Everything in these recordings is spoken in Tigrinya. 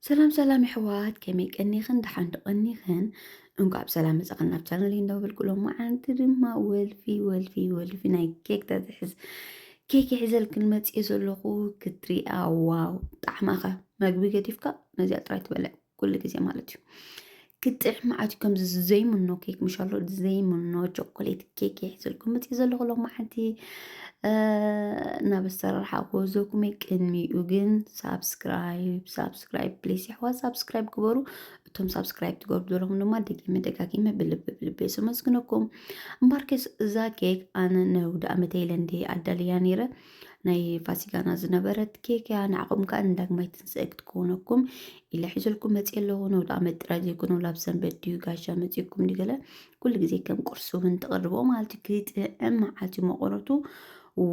ሰላም ሰላም የሕዋት ከመይ ቀኒኽን ደሓን ዶ ቀኒኽን እንኳዕ ብሰላም መጻኽን ናብ ቻነል እንዳበልኩ ሎማ ዓንቲ ድማ ወልፊ ወልፊ ወልፊ ናይ ኬክ ተትሕዝ ኬክ ይሕዘልክን መጽየ ዘለኹ ክትሪኣ ዋው ጣዕማኸ መግቢ ገዲፍካ ነዚኣ ጥራይ ትበልዕ ኩሉ ግዜ ማለት እዩ ክጥዕም መዓት ከምዚ ዘይምኖ ኬክ ምሻሎ ዘይምኖ ቾኮሌት ኬክ ይሕዝልኩም መፅእ ዘለኹ ሎማዓንቲ ናብ ኣሰራርሓ ክወዘኩም ቅድሚኡ ግን ሳብስክራይብ ሳብስክራይብ ፕሊስ ይሕዋ ሳብስክራይብ ግበሩ እቶም ሳብስክራይብ ትገብሩ ዘለኹም ድማ ደጊመ ደጋጊመ ብልቢ ብልቢ ዘመስግነኩም እምበርከስ እዛ ኬክ ኣነ ነውዲ ኣመተይለ እንዲ ኣዳልያ ነይረ ናይ ፋሲካና ዝነበረት ኬክ እያ ንዓኹም ከዓ ንዳግማይ ትንስኤ ክትከውነኩም ኢለ ሒዘልኩም መፅ ኣለኹ ነውዲ ዓመት ጥራይ ዘይኮነ ላብ ሰንበት ድዩ ጋሻ መፅኩም ድገለ ኩሉ ግዜ ከም ቁርሲ እውን ተቕርቦ ማለት እዩ ክጥዕም መዓልቲ መቆረቱ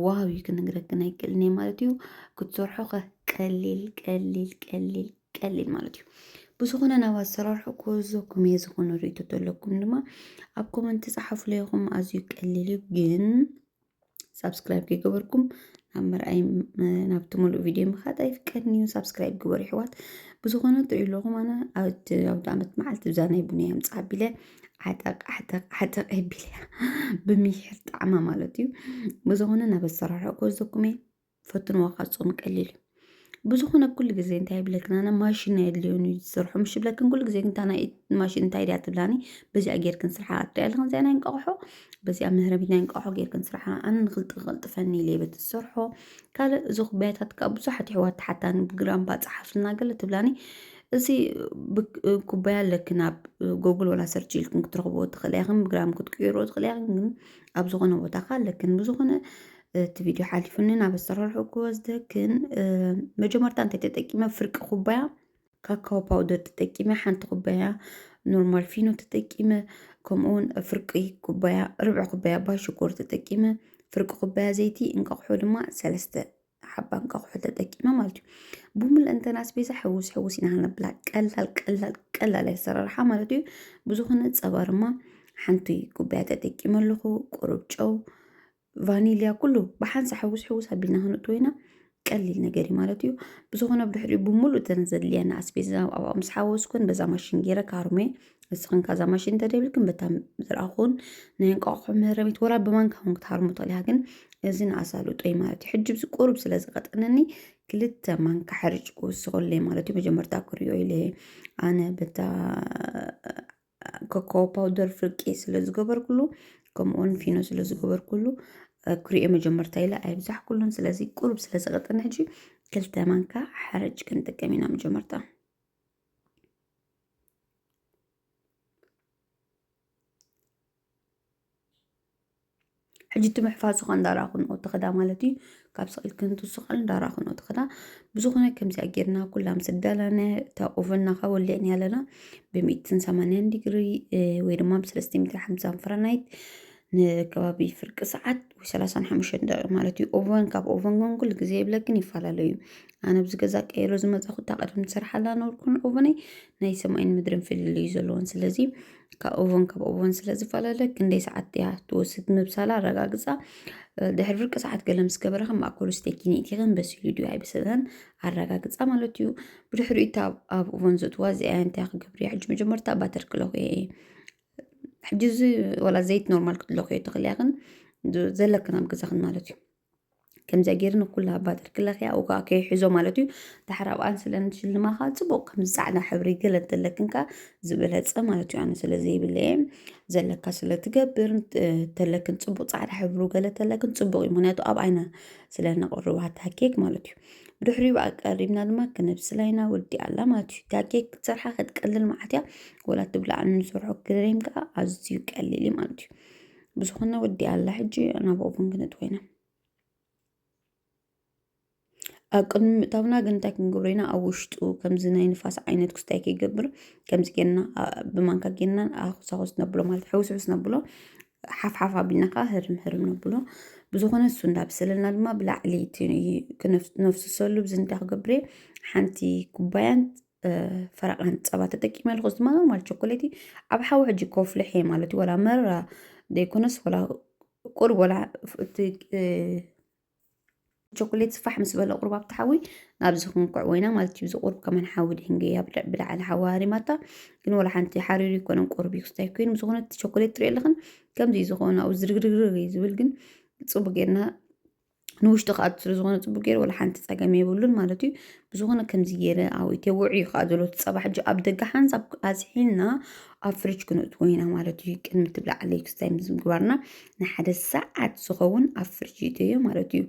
ዋው እዩ ክንግረክን ኣይክእልን እየ ማለት እዩ ክትሰርሖ ከ ቀሊል ቀሊል ቀሊል ቀሊል ማለት እዩ ብዝኾነ ናብ ኣሰራርሑ ክወዘኩም እየ ዝኾነ ርእቶ ተለኩም ድማ ኣብ ኮመንት ፃሓፉ ለይኹም ኣዝዩ ቀሊል እዩ ግን ሳብስክራይብ ከይገበርኩም ናብ መርኣይ ናብቲ ሙሉእ ቪድዮ ምኻድ ኣይፍቀድን እዩ ሳብስክራይብ ግበሩ ይሕዋት ብዝኾነ ትሪኡ ኣለኹም ኣነ ኣብቲ ኣውደ ዓመት መዓልቲ ብዛ ናይ ቡንያ ምፅ ኣቢለ ዓጠቅ ዓጠቅ ዓጠቅ ኣቢለ ብምሒር ጣዕማ ማለት እዩ ብዝኾነ ናብ ኣሰራርሐ ክወስደኩም እየ ፈትንዎ ካጾም ቀሊል እዩ ብዝኾነ ኩሉ ግዜ እንታይ ይብለክን ኣነ ማሽን ናይ ኣድልዮን እዩ ዝሰርሖ ምሽ ይብለክን ኩሉ ግዜ እንታ ናይ ማሽን እንታይ ድያ ትብላኒ በዚኣ ጌርክን ስርሓ ኣትሪያ ኣለኽን እዚኣ ናይ እንቋቑሖ በዚኣ መህረቢት ናይ እንቋቑሖ ጌርክን ስርሓ ኣነ ንክልጥፈልጥፈኒ ኢለ በቲ ዝሰርሖ ካልእ እዚ ኩባያታት ከዓ ብዙሓት ይሕዋት ተሓታኒ ብግራም ባፀሓፍልና ገለ ትብላኒ እዚ ኩባያ ኣለክን ኣብ ጎግል ወላ ሰርች ኢልክን ክትረኽብዎ ትኽእላ ኢኽን ብግራም ክትቅይሮ ትኽእላ ኢኽን ግን ኣብ ዝኾነ ቦታ ከዓ ኣለክን ብዝኾነ እቲ ቪድዮ ሓሊፉኒ ናብ ኣሰራርሑ ክወስደክን መጀመርታ እንታይ ተጠቂመ ፍርቂ ኩባያ ካካዎ ፓውደር ተጠቂመ ሓንቲ ኩባያ ኖርማል ፊኖ ተጠቂመ ከምኡውን ፍርቂ ኩባያ ርብዒ ኩባያ ባይ ሽኮር ተጠቂመ ፍርቂ ኩባያ ዘይቲ እንቃቑሖ ድማ ሰለስተ ሓባ እንቃቑሖ ተጠቂመ ማለት እዩ ብሙል እንተና ስቤዛ ሕውስ ሕውስ ኢና ክንብላ ቀላል ቀላል ቀላል ኣሰራርሓ ማለት እዩ ብዝኾነ ፀባ ድማ ሓንቲ ኩባያ ተጠቂመ ኣለኹ ቁሩብ ጨው ቫኒልያ ኩሉ ብሓንሳ ሕውስ ሕውስ ኣቢልና ክንእትዎ ኢና ቀሊል ነገር እዩ ማለት እዩ ብዝኾነ ብድሕሪኡ ብምሉእ እተን ዘድልየና ኣስቤዛ ኣብኡ ምስ ሓወስኩን በዛ ማሽን ገይረ ካርሜ ንስኽን ካዛ ማሽን እንተደይብልክን በታ ዝረኣኹን ናይ እንቋቑሖ መህረሚት ወላ ብማንካ እውን ክትሃርሙ ትኽእል እያ ግን እዚ ንኣሳልጦ እዩ ማለት እዩ ሕጂ ብዚ ቁሩብ ስለ ዝቐጠነኒ ክልተ ማንካ ሕርጭ ክውስኸለይ ማለት እዩ መጀመርታ ክሪኦ ኢለ ኣነ በታ ኮኮ ፓውደር ፍርቂ ስለ ዝገበርኩሉ ከምኡውን ፊኖ ስለ ዝገበርኩሉ ክሪኦ መጀመርታ ኢለ ኣይብዛሕኩሉን ስለዚ ቁሩብ ስለ ዝቐጥነ ሕጂ ክልተ ማንካ ሓረጭ ክንጥቀም ኢና መጀመርታ ሕጂ እቲ ምሕፋዝ ዝኾን ዳራኹን ኦትኸዳ ማለት እዩ ካብ ስቕል ክንቱ ስቕል ዳራኹን ኦትኸዳ ብዙኾነ ከምዚኣ ጌርና ኩላ ምስ ደለነ እታ ኦቨንና ካብ ወሊዕን ያለና ብሚእትን ሰማንያን ዲግሪ ወይ ድማ ብሰለስተ ሚትር ሓምሳን ፈረናይት ንከባቢ ፍርቂ ሰዓት ወይ ሰላሳን ሓሙሽተ ደቂቕ ማለት እዩ ኦቨን ካብ ኦቨን ግን ኩሉ ግዜ የብለክን ይፈላለዩ ኣነ ኣብዚ ገዛ ቀይሮ ዝመፀኹ እታ ቀደም ዝሰርሓላ ነበርኩን ኦቨነይ ናይ ሰማይን ምድርን ፍልልይ ዘለዎን ስለዚ ካብ እዋን ካብ እዋን ስለ ዝፈላለ ክንደይ ሰዓት እያ ትወስድ ምብሳላ ኣረጋግፃ ድሕሪ ፍርቂ ሰዓት ገለ ምስ ገበረ ከም ማእከሉ ስቴኪኒት ይኸን በሲሉ ድዩ ኣይበሰለን ኣረጋግፃ ማለት እዩ ብድሕሪ እታ ኣብ እዋን ዘእትዋ እዚኣ እንታይ ክገብር እያ ሕጂ መጀመርታ ባተር ክለኹ እየ ሕጂ እዚ ወላ ዘይት ኖርማል ክትለኹ እየ ተኽልያ ግን ዘለክን ኣብ ገዛኽን ማለት እዩ ከምዚ ገይሩ ንኩላ ኣባጥር ክለኽያ ኣብኡ ከዓ ከይሕዞ ማለት እዩ ድሓር ኣብኣን ስለ ንሽልማ ከዓ ፅቡቅ ከምዚ ፃዕዳ ሕብሪ ገለ እንተለክን ከዓ ዝበለፀ ማለት እዩ ኣነ ስለ ዘይብለ እየ ዘለካ ስለ ትገብር ተለክን ፅቡቅ ፃዕዳ ሕብሩ ገለ ተለክን ፅቡቅ እዩ ምክንያቱ ኣብ ዓይና ስለ ነቅርባ እታ ኬክ ማለት እዩ ብድሕሪኡ ኣቀሪብና ድማ ክነብስላ ኢና ወዲኣ ኣላ ማለት እዩ እታ ኬክ ክትሰርሓ ክትቀልል መዓት እያ ወላ ትብላዕ እንሰርሖ ክሬም ከዓ ኣዝዩ ቀሊል እዩ ማለት እዩ ብዝኾነ ወዲኣ ኣላ ሕጂ ናብ ኦቭን ክንእትዎ ኢና ኣብ ቅድሚ ምእታውና ግን እንታይ ክንገብሮ ኢና ኣብ ውሽጡ ከምዚ ናይ ንፋስ ዓይነት ክስታይ ከይገብር ከምዚ ጌርና ብማንካ ጌርና ኣኹሳኹስ ነብሎ ማለት ሕውስውስ ነብሎ ሓፍሓፍ ኣቢልና ከዓ ህርም ህርም ነብሎ ብዝኾነ እሱ እንዳብሰለና ድማ ብላዕሊ ነፍስሰሉ ብዚ እንታይ ክገብር ሓንቲ ኩባያን ፈረቓን ፀባ ተጠቂመ ኣለኹ እዚ ድማ ኖርማል ቾኮሌቲ ኣብ ሓዊ ሕጂ ኮፍልሕ እየ ማለት እዩ ዋላ መረራ ዘይኮነስ ዋላ ቁርብ ዋላ እቲ ቾኮሌት ስፋሕ ምስ በለ ቁርብ ኣብቲ ሓዊ ናብዚ ክንኩዕ ወይና ማለት እዩ እዚ ቁርብ ከመን ሓዊ ድህንገ እያ ብላዕሊ ሓዊ ሃሪማታ ግን ዋላ ሓንቲ ሓሪሩ ይኮነን ቁርብ እዩ ክስታይ ኮይኑ ዝኾነ እቲ ቾኮሌት ትሪኦ ኣለኽን ከምዚ እዩ ዝኾነ ኣብኡ ዝርግርግርግ እዩ ዝብል ግን ፅቡቅ ጌርና ንውሽጢ ክኣቱ ስለ ዝኾነ ፅቡቅ ገይሩ ወላ ሓንቲ ፀገም የብሉን ማለት እዩ ብዝኾነ ከምዚ ገይረ ኣብ ኢትዮ ውዑይ እዩ ከዓ ዘሎ እቲ ፀባ ሕጂ ኣብ ደገ ሓንሳብ ኣዝሒልና ኣብ ፍሪጅ ክንእትዎ ኢና ማለት እዩ ቅድሚ እቲ ብላዕሊ ክስታይ ምስ ምግባርና ንሓደ ሰዓት ዝኸውን ኣብ ፍሪጅ ይእትዮ ማለት እዩ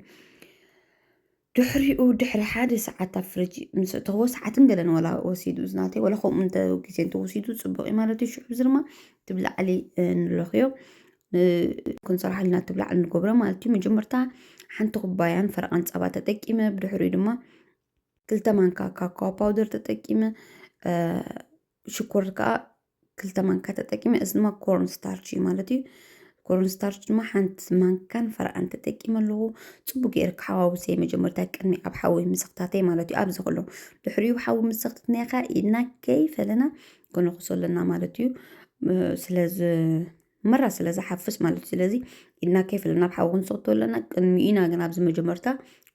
ድሕሪኡ ድሕሪ ሓደ ሰዓት ኣብ ፍሪጅ ምስ እተዎ ሰዓትን ገለን ወላ ወሲዱ ዝናተይ ወላ ከምኡ እንተ ግዜ እንተወሲዱ ፅቡቅ እዩ ማለት እዩ ሽዑ እዚ ድማ እቲ ብላዕሊ ንለኽዮ ክንሰርሓልና ትብላዕ ንገብሮ ማለት እዩ መጀመርታ ሓንቲ ኩባያን ፈረቓን ፀባ ተጠቂመ ብድሕሪኡ ድማ ክልተ ማንካ ካካዎ ፓውደር ተጠቂመ ሽኮር ከዓ ክልተ ማንካ ተጠቂመ እዚ ድማ ኮርን ስታርች እዩ ማለት እዩ ኮርን ስታርች ድማ ሓንቲ ማንካን ፈረቓን ተጠቂመ ኣለኹ ፅቡቅ ገይረ ክሓዋውሰ መጀመርታ ቅድሚ ኣብ ሓዊ ምሰኽታተይ ማለት እዩ ኣብዚ ከሎ ድሕሪኡ ሓዊ ምሰኽትትናኻ ኢድና ከይፈለና ከነኹሶ ኣለና ማለት እዩ ስለዚ መራ ስለ ዝሓፍስ ማለት እዩ ስለዚ ኢድና ከይፈለ ናብ ሓዊ ክንሰክቶ ኣለና ቅድሚ ኢና ግን ኣብዚ መጀመርታ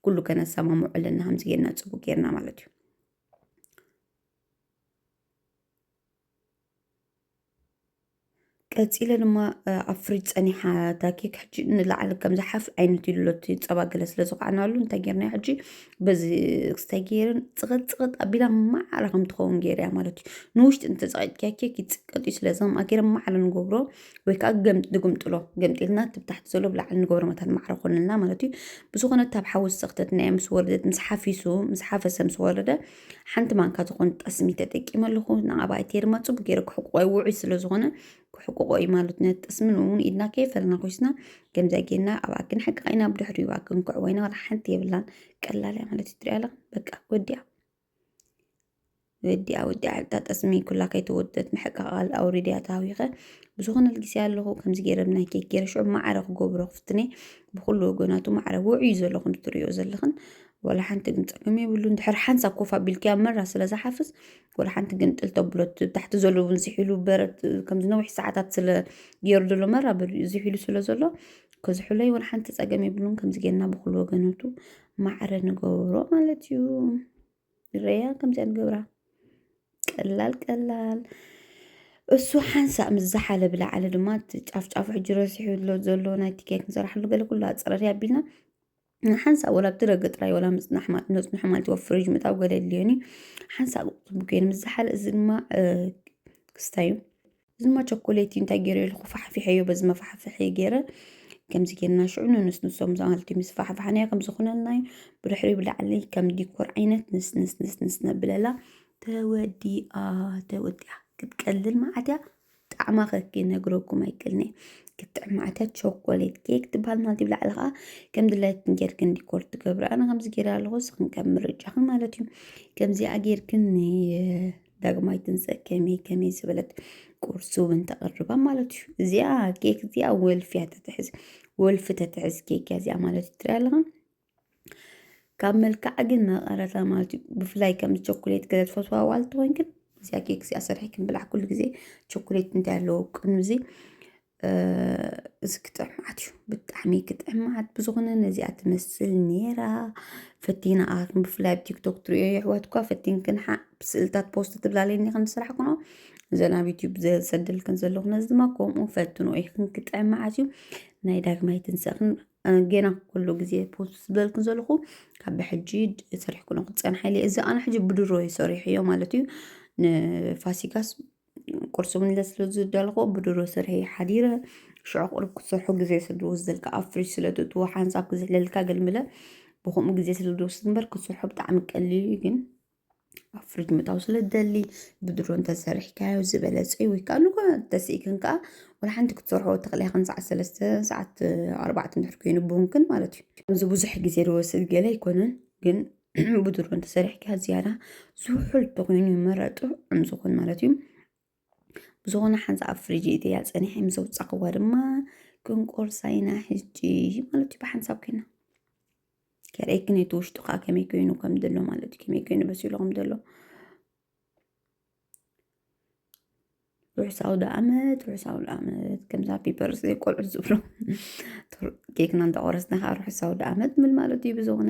ኩሉ ከነሰማምዑ ኣለና ከምዚ ጌርና ፅቡቅ ጌርና ማለት እዩ ቀፂለ ድማ ኣብ ፍሪጅ ፀኒሓ እታ ኬክ ሕጂ ንላዕሊ ከም ዝሓፍ ዓይነት ኢሉ እቲ ፀባ ገለ ስለ ዝኸዓናሉ እንታይ ጌርና ሕጂ በዚ ክስታይ ገይርን ፅቕጥ ፅቕጥ ኣቢላ ማዕረ ከም ትኸውን ገይርያ ማለት እዩ ንውሽጢ እንተፀቂጥኪያ ኬክ ይፅቀጥ እዩ ስለዚ ከምኣ ገይረ ማዕረ ንገብሮ ወይ ከዓ ገም ንግምጥሎ ገምጢልና ትብታሕቲ ዘሎ ብላዕሊ ንገብሮ መታን ማዕረ ኮንልና ማለት እዩ ብዝኾነ ካብ ሓዊ ዝተኽተትናዮ ምስ ወረደት ምስ ሓፊሱ ምስ ሓፈሰ ምስ ወረደ ሓንቲ ማንካ ዝኾነ ጠስሚ ተጠቂመ ኣለኹ ንኣባይቲ የርማፁ ብገይረ ክሕቁቆ ውዑይ ስለዝኾነ ክሕቁቆ እዩ ማለት ነት ጥስምን እውን ኢድና ከይፈለና ኮይስና ከምዚያ ጌና ኣብ ኣክን ሓቂ ዓይና ብድሕሪኡ ኣክን ክዕወይና ዋላ ሓንቲ የብላን ቀላል እያ ማለት እዩ ትሪኣ ኣለኻ በቃ ወዲያ ወዲያ ወዲያ ዕልታ ጠስሚ ኩላ ከይተወደት ምሕቃቃል ኣውሪድያ ተሃዊኸ ብዝኾነ ልጊስያ ኣለኹ ከምዚ ገይረ ብናይ ኬክ ገይረ ሽዑ ማዕረ ክገብሮ ክፍትነ ብኩሉ ወገናቱ ማዕረ ውዕዩ ዘሎ ከም ትሪኦ ዘለኽን ዋላ ሓንቲ ግን ፀገም የብሉን ድሕሪ ሓንሳብ ኮፍ ኣቢልክያ መራ ስለ ዝሓፍስ ወላ ሓንቲ ግንጥል ተብሎት ታሕቲ ዘሎ እውን ዝሒሉ በረት ከምዚ ነዊሕ ሰዓታት ስለ ገይሩ ዘሎ መራ በሉ እዩ ዝሒሉ ስለ ዘሎ ከዝሕሎ ይወላ ሓንቲ ፀገም የብሉን ከምዚ ጌርና ብኩሉ ወገነቱ ማዕረ ንገብሮ ማለት እዩ ንረያ ከምዚኣ ንገብራ ቀላል ቀላል እሱ ሓንሳእ ምስ ዝሓለ ብላዕሊ ድማ እቲ ጫፍጫፉ ሕጂ ረሲሑ ኣሎ ዘሎ ናይቲ ኬክ ንሰራሕሉ ገለ ኩሉ ኣፀረርያ ኣቢልና ንሓንሳብ ወላ ኣብቲ ደገ ጥራይ ወላ ምጽናሕ ማ- ነጽንሖ ማለት እዩ ኣብ ፍሪጅ ምእታው ገለ የድልዮን እዩ ሓንሳብ ክጥቡ ኮይኑ ምስ ዝሓለ እዚ ድማ እ፣ ክስታይ እዩ እዚ ድማ ቸኮሌት እዩ እንታይ ገይረ ኢልኩ ፋሕፊሐዮ በዚ መፋሕፍሒ ገይረ ከምዚ ጌርና ሽዑ ንንስንሶም ማለት እዩ ምስ ፋሕፋሕናዮ ከም ዝኾነልና እዩ ብድሕሪ ብላዕሊ ከም ዲኮር ዓይነት ንስንስንስንስ ነብለላ ተወዲኣ ተወዲኣ ክትቀልል መዓት እያ ጣዕማ ከክ ክነግረኩም ኣይክእልንየ ክትጥዕም ማዕታ ቾኮሌት ኬክ ትበሃል ማለት እዩ ብላዕሊ ከዓ ከም ድላይክን ጌርክን ዲኮር ትገብሩ ኣነ ከምዚ ጌረ ኣለኹ ንስኽን ከም ምርጫኽን ማለት እዩ ከምዚኣ ጌርክን ዳግማይ ትንፀእ ከመይ ከመይ ዝበለት ቁርሲ እውን ተቕርባ ማለት እዩ እዚኣ ኬክ እዚኣ ወልፊያ ተትሕዝ ወልፊ ተትሕዝ ኬክ እያ እዚኣ ማለት እዩ ትሪኣ ኣለኻ ካብ መልክዓ ግን መቐረታ ማለት እዩ ብፍላይ ከም ቸኮሌት ገለ ትፈትዋ ዋል ትኾን ግን እዚኣ ኬክ እዚኣ ሰርሒ ክንብላዕ ኩሉ ግዜ ቸኮሌት እንታይ ኣለዎ ቅኑ እዚ እዚ ክጥዕም መዓት እዩ ብጣዕሚ ክጥዕም መዓት ብዝኾነ ነዚኣ ትመስል ነይራ ፈቲና ኣኻትኩም ብፍላይ ኣብ ቲክቶክ ትሪኦ የሕዋትኳ ፈቲንክን ሓ ስእልታት ፖስት ትብላለኒ ከም ስራሕ ኩኖ እዘን ኣብ ዩትዩብ ዘሰደልክን ዘለኹ ነዚ ድማ ከምኡ ፈትኖ ኢኽን ክጥዕም መዓት እዩ ናይ ዳግማይ ትንሳእኽን ጌና ኩሉ ግዜ ፖስት ዝበልኩ ዘለኹ ካብ ብሕጂ ሰሪሕኩኖ ክትፀንሐ ኢለ እዚ ኣነ ሕጂ ብድሮ እዩ ሰሪሐዮ ማለት እዩ ንፋሲካስ ቁርሲ እውን ስለ ዝደለኹ ብድሮ ስርሐ ሓዲረ ሽዑ ቅርብ ክትሰርሖ ግዜ ስለ ዝወስደልካ ኣብ ፍሪጅ ስለ ትእትዎ ሓንሳብ ክዝሕለልካ ገልምለ ብከምኡ ግዜ ስለ ዝወስድ እምበር ክትሰርሖ ብጣዕሚ ቀሊል እዩ ግን ኣብ ፍሪጅ ምእታው ስለ ትደሊ ብድሮ እንተሰሪሕካዮ ዝበለፀ እዩ ወይ ከዓ ንኳ ተስኢክን ከዓ ወላ ሓንቲ ክትሰርሖ ተኽእለ ኢኽን ሰዓት ሰለስተ ሰዓት ኣርባዕተ እንድሕር ኮይኑ ብውንክን ማለት እዩ እዚ ብዙሕ ግዜ ዝወስድ ገለ ኣይኮነን ግን ብድሮ እንተሰሪሕካ ዝያዳ ዝውሑል ተኾይኑ ይመረጡ እም ዝኾን ማለት እዩ ብዝኾነ ሓንሳ ኣብ ፍሪጅ እትያ ጸኒሐ ምስ ኣውጻኽዋ ድማ ክንቆርሳ ኢና ሕጂ ማለት እዩ ብሓንሳብ ኮይና ከርእይ ግን እቲ ውሽጡ ከዓ ከመይ ኮይኑ ከም ዘሎ ማለት እዩ ከመይ ኮይኑ በሲሉ ከም ዘሎ ርሑስ ኣውደ ዓመት ርሑስ ኣውደ ዓመት ከምዛ ፒፐርስ ቆልዑ ዝብሎ ኬክና እንዳቆረስና ከዓ ርሑስ ኣውደ ዓመት ምል ማለት እዩ ብዝኾነ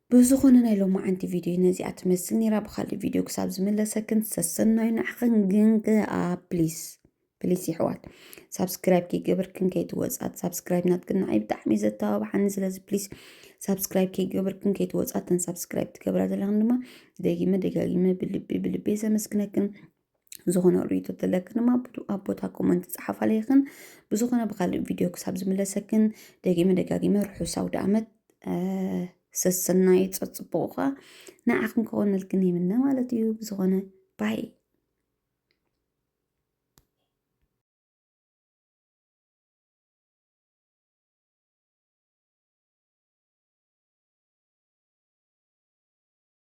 ብዝኾነ ናይ ሎማዓንቲ ቪድዮ ነዚኣ ትመስል ነይራ ብካልእ ቪድዮ ክሳብ ዝምለሰክን ሰሰናዩ ንዓኽን ግን ከኣ ፕሊስ ፕሊስ ይሕዋት ሳብስክራይብ ከይገበርክን ከይትወፅኣ ሳብስክራይብ ናትክን ንዓይ ብጣዕሚ እዩ ዘተባብዓኒ ስለዚ ፕሊስ ሳብስክራይብ ከይገበርክን ከይትወፅኣ ተን ሳብስክራይብ ትገብራ ዘለኽን ድማ ደጊመ ደጋጊመ ብልቢ ብልቢ ዘመስግነክን ዝኾነ ርእይቶ ተለክን ድማ ኣብ ቦታ ኮመንት ፀሓፋለይኽን ብዝኾነ ብካልእ ቪድዮ ክሳብ ዝምለሰክን ደጊመ ደጋጊመ ርሑስ ኣውደ ዓመት ሰሰናይ ፀፅቡቑ ከዓ ንዓኽን ክኾነልክን ይምነ ማለት እዩ ብዝኾነ ባይ